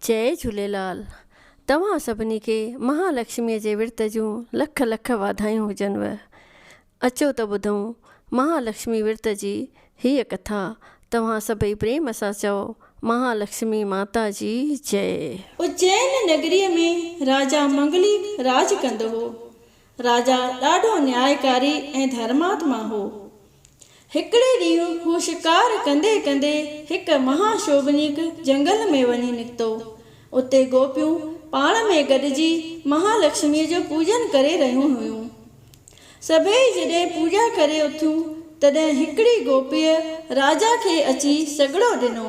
جئي جھوليلال توھان سڀني کي مھا لڪشمي جي ورت جون لک لک واڌايون ھجنو اچو ته ٻڌون مھا لڪشمي ورت جي ھيء ڪٿا توھان سڀئي پريم سان چئو مھا لڪشمي ماتا جي جئي. اجين نگريء ۾ راجا منگلي راڄ ڪندو هو. راجا ڏاڍو نيائيڪاري ۽ ڌرماتما هو. هڪڙي ڏينهن هو شڪار ڪندي ڪندي هڪ مها شوڀنيڪ جهنگل ۾ وڃي نڪتو. اتي گوپيون پاڻ ۾ گڏجي مها لڪشميء جو پوڄن ڪري رهيون هيون. سڀيئي جڏهن پوڄا ڪري اٿيون تڏهن هڪڙي گوپيء راجا کي اچي سڳڙو ڏنو.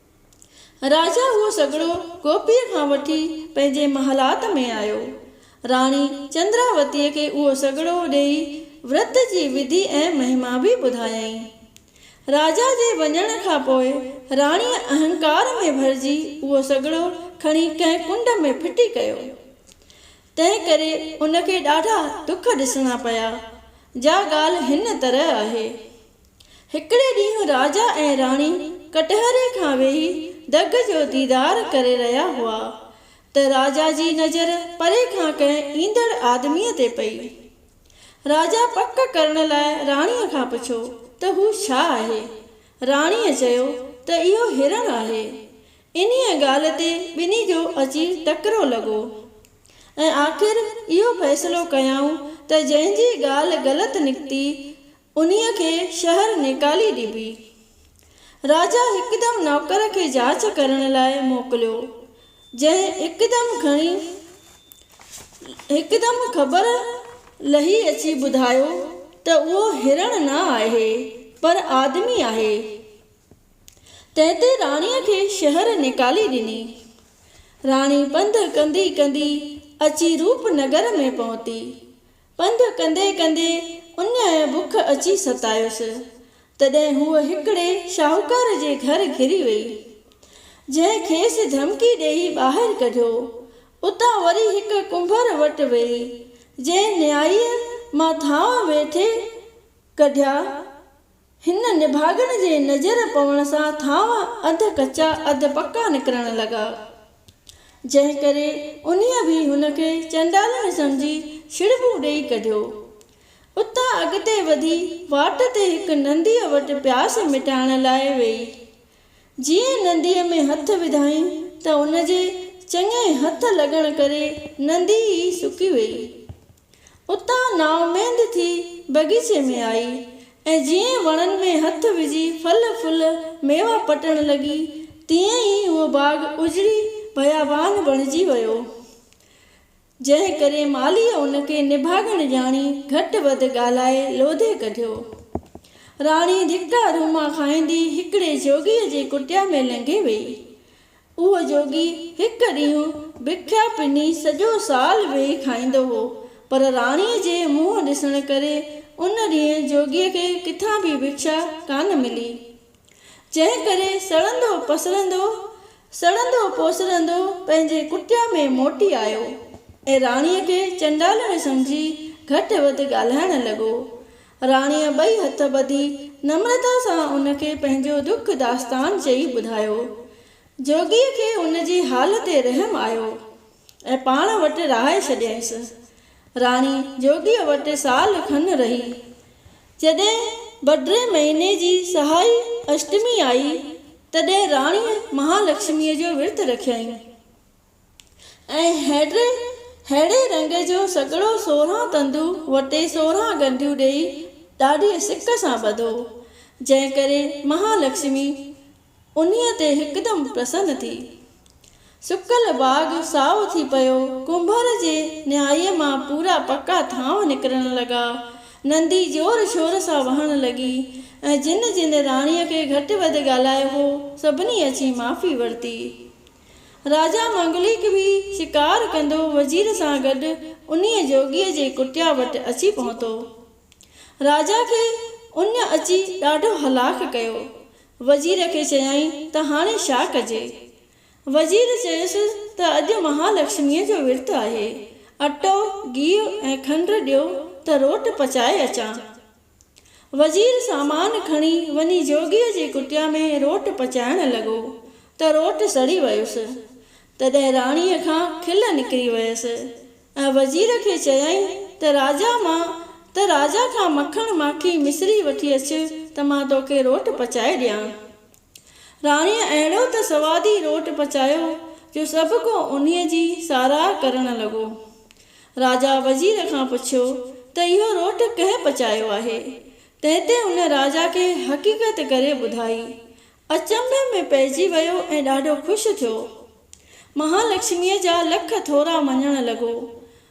راجا اهو سگهڙو گوپيء کان وٺي پنهنجي محلات ۾ آيو. راڻي چندراوتيء کي اهو سگهڙو ڏيئي ورت جي وڌي ۽ مهما به ٻڌايائين. راجا جي وڃڻ کان پوء راڻيء اهنڪار ۾ ڀرجي اهو سگهڙو کڻي ڪنهن ڪنڊ ۾ ڦٽي ڪيو. تنهن ڪري ان کي ڏاڍا ڏک ڏسڻا پيا. جا ڳالهه هن طرح آهي. هڪڙي ڏينهن راجا ۽ راڻي ڪٽهري کان ويهي دڳ جو ديدار ڪري رهيا هئا ته راجا جي نظر پري کان ڪنهن ايندڙ آدميء تي پئي. راجا پڪ ڪرڻ لاء راڻيء کان پڇيو ته هو ڇا آهي؟ راڻيء چيو ته اهو هرڻ آهي. انهيء ڳالهه تي ٻنهي جو اچي ٽڪرو لڳو ۽ آخر اهو فيصلو ڪيائون ته جنهن جي ڳالهه غلط نڪتي انهيء کي شهر نيڪالي ڏبي. راجا هڪدم نوڪر کي جاچ ڪرڻ لاء موڪليو، جنهن هڪدم کڻي هڪدم خبر لهي اچي ٻڌايو ته اهو هرڻ نه آهي، پر آدمي آهي. تنهن تي راڻيء کي شهر نيڪالي ڏني. راڻي پنڌ ڪندي ڪندي اچي روپ نگر ۾ پهتي. پنڌ ڪندي ڪندي اڃايء بک اچي ستايس، تڏهن هوء هڪڙي شاهوڪار جي گهر گهري ويئي، جنهن کيس ڌمڪي ڏيئي ٻاهر ڪڍيو. اتان وري هڪ ڪنڀر وٽ ويئي، جنهن نيائيء مان ٿانء ويٺي ڪڍيا هن نڀاڳڻ جي نظر پوڻ سان ٿانو اڌ ڪچا اڌ پڪا نڪرڻ لڳا، جنهن ڪري انهيء به هن کي چنڊالڻي سمجهي ڇڙٻون ڏيئي ڪڍيو. اتان اڳتي وڌي واٽ تي هڪ ننديء وٽ پياس مٽائڻ لاء ويئي. جيئن ننديء ۾ هٿ وڌائين ته ان جي چڱي هٿ لڳڻ ڪري نندي ئي سڪي ويئي. اتان نااميد ٿي بغيچي ۾ آئي ۽ جيئن وڻن ۾ هٿ وجهي ڦل ڦل ميوا پٽڻ لڳي تيئن ئي اهو باغ اجڙي بيابان بڻجي ويو جنهن ڪري مالهيء ان کي نڀاڳڻ ڄاڻي گهٽ وڌ ڳالهائي لوڌي ڪڍيو. راڻي ڌڪا روما کائيندي هڪڙي جوڳيء جي ڪٽيا ۾ لنگهي ويئي. اهو جوڳي هڪ ڏينهن بکيا پني سڄو سال ويهي کائيندو هو، پر راڻيء جي منهن ڏسڻ ڪري ان ڏينهن جوڳيء کي ڪٿان به بکيا ڪانه ملي، جنهن ڪري سڙندو پسرندو، سڙندو پوسرندو پنهنجي ڪٽيا ۾ موٽي آيو ۽ راڻيء کي چنڊالڻ سمجهي گهٽ وڌ ڳالهائڻ لڳو. راڻيء ٻئي هٿ ٻڌي نمرتا سان ان کي پنهنجو دک داستان چئي ٻڌايو. جوڳيء کي ان جي حال تي رحم آيو ۽ پاڻ وٽ رهائي ڇڏيائينس. راڻي جوڳيء وٽ سال کن رهي. جڏهن بڊري مهيني جي سهائي اشٽمي آئي، تڏهن راڻيء مهالڪشميء جو ورت رکيائين. ۽ هيڊري ههڙي رنگ جو سڳڙو سورهن تندو وٽي سورهن ڳنڍيون ڏيئي ڏاڍيء سڪ سان ٻڌو، جنهن ڪري مها لڪشمي انهيء تي هڪدم پرسن ٿي. سڪل باغ سائو ٿي پيو، ڪنڀر جي نهائيء مان پورا پڪا ٿانو نڪرڻ لڳا، نندي زور شور سان وهڻ لڳي ۽ جن جن راڻيء کي گهٽ وڌ ڳالهايو هو، سڀني اچي معافي ورتي. راجا منگليڪ به شڪار ڪندو وزير سان گڏ انهيء جوڳيء جي ڪٽيا وٽ اچي پهتو. راجا کي ان اچي ڏاڍو هلاڪ ڪيو. وزير کي چيائين ته هاڻي ڇا ڪجي؟ وزير چيس ته اڄ مهالڪشميء جو ورت آهي. اٽو، گيهه ۽ کنڊ ڏيو ته روٽ پچائي اچان. وزير سامان کڻي وڃي جوڳيء جي ڪٽيا ۾ روٽ پچائڻ لڳو ته روٽ سڙي ويس. تڏهن راڻيء کان کل نڪري ويس ۽ وزير کي چيائين ته راجا مان ته راجا کان مکڻ ماکي مصري وٺي اچ ته مان توکي روٽ پچائي ڏيان. راڻيء اهڙو ته سوادي روٽ پچايو جو سڀ ڪو انهيء جي ساراهه ڪرڻ لڳو. راجا وزير کان پڇيو ته اهو روٽ ڪنهن پچايو آهي؟ تنهن تي ان راجا کي حقيقت ڪري ٻڌائي. اچنڀي ۾ پئجي ويو ۽ ڏاڍو خوش ٿيو. مهالڪشميء جا لک ٿورا مڃڻ لڳو.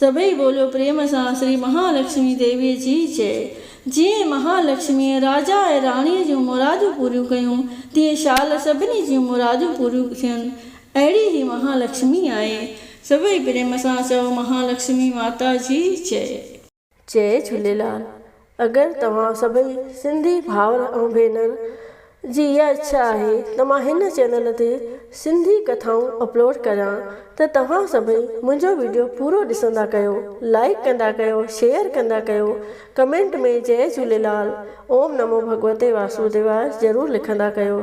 سڀئي ٻوليو پريم سان شري مها لڪشمي ديويء جي جئه. جيئن مها لڪشميء راجا ۽ راڻيء جون مرادون پوريون ڪيون، تيئن شال سڀني جون مرادون پوريون ٿين. اهڙي هي مها لڪشمي آهي. سڀئي پريم سان چئو مها لڪشمي ماتا جي جئه. جئ جھوليلال اگر توھان سڀئي سنڌي ڀائر ۽ ڀينر جي اھا اڇا آھي ته مان ھن چينل تي سنڌي ڪٿائون اپلوڊ ڪريان ته توھان سڀئي منھنجو ويڊيو پورو ڏسندا ڪيو لائيڪ ڪندا ڪيو شيئر ڪندا ڪيو ڪمينٽ ۾ جئ جھوليلال اوم نمو ڀڳوتي واسوديواي ضرور لکندا ڪيو